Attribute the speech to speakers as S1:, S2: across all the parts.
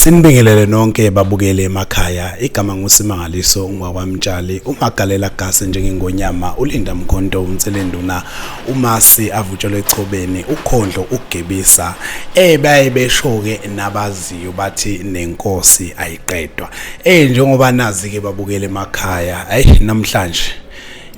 S1: Sinibingelele nonke babukele emakhaya igama ngusimangaliso ungwakwamtshali umagalela gase njengengonyama ulinda mkhonto unselenduna umasi avutshelwe echobeni ukhondlo ugebisa eh baye beshoke nabaziyo bathi nenkosi ayiqedwa eh njengoba nazi ke babukele emakhaya ayi namhlanje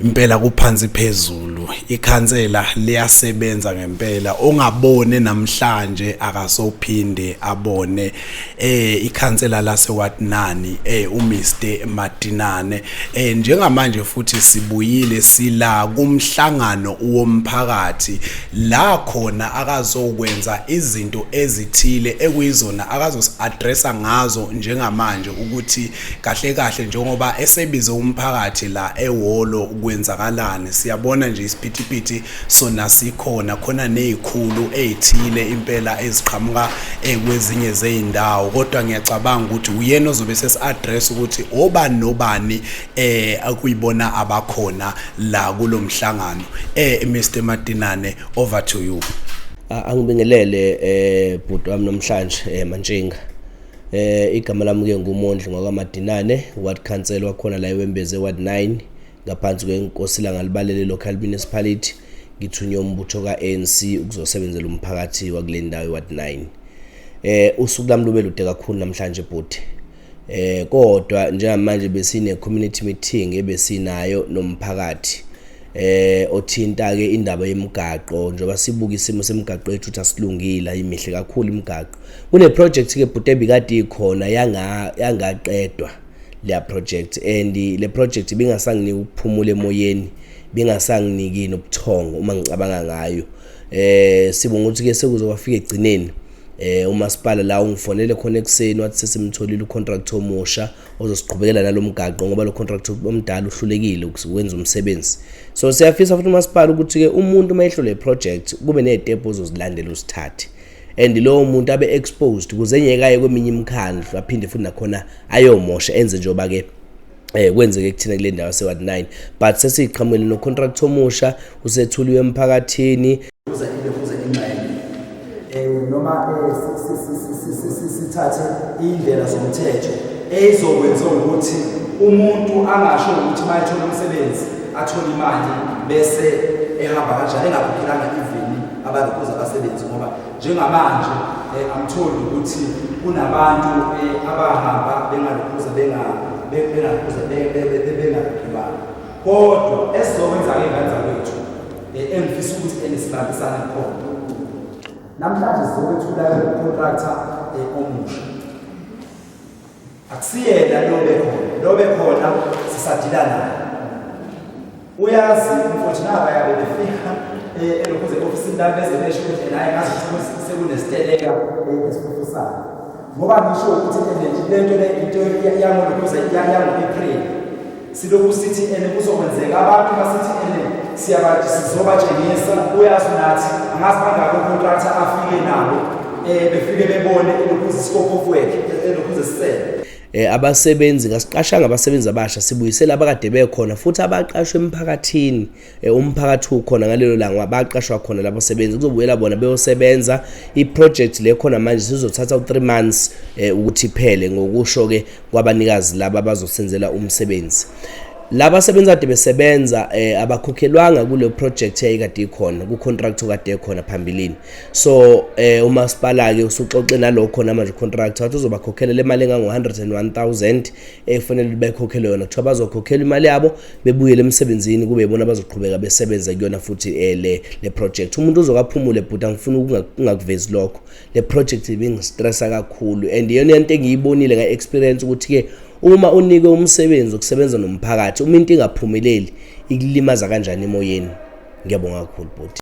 S1: impela kuphansi phezulu ikhansela liyasebenza ngempela ongabone namhlanje akasophinde abone eh ikhansela lase Watnani eh uMr Madinane eh njengamanje futhi sibuyile sila kumhlangano womphakathi la khona akazokwenza izinto ezithile ekuyizona akazosiaddressa ngazo njengamanje ukuthi kahle kahle njengoba esebize umphakathi la ehholo kwenzakalani siyabona nje isiphithiphithi sona sikhona khona nezikhulu ezithile impela eziqhamuka eh, kwezinye zezindawo kodwa ngiyacabanga ukuthi uyena ozobe sesiaddress ukuthi obani nobani eh akuyibona abakhona la kulomhlangano eh Mr Madinane over to you angibingelele eh
S2: bhuti wami namhlanje eh mantshinga Eh igama lami ke ngumondli ngokwaMadinane ward council wakhona la eWembeze ward 9 ngaphansi kwenkosi langalibalele local municipality ngithunywe umbutho ka-ANC ukuzosebenzela umphakathi wakule ndawo iward 9 eh usuku lami lube lude kakhulu namhlanje bhuti eh kodwa njengamanje besine community meeting ebesinayo nomphakathi eh othinta ke indaba yemigaqo njengoba sibuka isimo semigaqo yethu ukuthi asilungile ayimihle kakhulu imigaqo kune project ke bhuti ebikade ikhona yanga yangaqedwa le project and le project ibingasanginiki ukuphumula emoyeni bingasanginiki nobuthongo uma ngicabanga ngayo eh sibonga ukuthi ke sekuzowafika egcineni eh umasipala la ungifonele khona ekuseni wathi sesimtholile ucontract omusha ozosiqhubekela nalo mgaqo ngoba lo contract omdala uhlulekile ukwenza umsebenzi so siyafisa futhi umasipala ukuthi-ke umuntu uma ehlole iproject kube ney'tebhu ozozilandela uzithathe and lowo muntu abe exposed kuze enyekaye kweminye imikhandlu aphinde futhi nakhona ayomosha enze njengoba ke eh kwenzeke kuthina kule ndawo se-ward 9 but sesiqhamukele nocontract omusha usethuliwe emphakathini kuze ibe kuze
S3: ingxenye eh noma eh, sithathe indlela zomthetho ezokwenza ukuthi umuntu angasho ukuthi mayithola umsebenzi athole imali bese ehamba kanjani engakhokhela ivini abantu kuze abasebenzi ngoba njengamanje eh, amtholi ukuthi kunabantu eh, abahamba bengalukhuza bengalukhuza bengalukhuza kodwa esizokwenza-ke ngani zakwethu engifisa ukuthi enisibambisane khona namhlanje sizokwethula ucontracta omusha akusiyena lobe khona lobe khona sisadila naye uyazi mfowethu naba yabe befika elokhuze ofisini lami beze besho ukuthi naye ngazi ukuthi sekunesiteleka esifufusayo ngoba ngisho ukuthi le nto le into yangolokhuze yango-april silokhu sithi ene kuzokwenzeka abantu basithi ene siyabathi sizobatshengisa uyazi nathi angazi bangako contractor afike nabo eh befike bebone lokhuze isikopho kwethu lokhuze sisele eh abasebenzi
S2: kasiqashanga abasebenzi abasha sibuyisela abakade bekhona futhi abaqashwe emphakathini Eh, umphakathi ukhona ngalelo langa baqashwa khona labo sebenzi kuzobuyela bona beyosebenza iproject le khona manje sizothatha u-3 months eh, ukuthi phele ngokusho-ke kwabanikazi laba bazosenzela umsebenzi laba sebenza kade besebenza eh, abakhokhelwanga kule project yayikade ikhona kucontract kade ekhona phambilini so eh, umasipala ke usuxoxe nalokho namanje contract wathi uzobakhokhela le mali engango 101000 efanele bekhokhelwe yona kuthiwa bazokhokhelwa imali yabo bebuyele emsebenzini kube yibona abazoqhubeka besebenza kuyona futhi eh, le le project umuntu uzokaphumule bhuti angifuni ukungakuvezi lokho le project ibingistressa kakhulu and iyona into engiyibonile nga experience ukuthi ke uma unike umsebenzi ukusebenza nomphakathi uma into ingaphumeleli ikulimaza kanjani emoyeni ngiyabonga kakhulu bhuti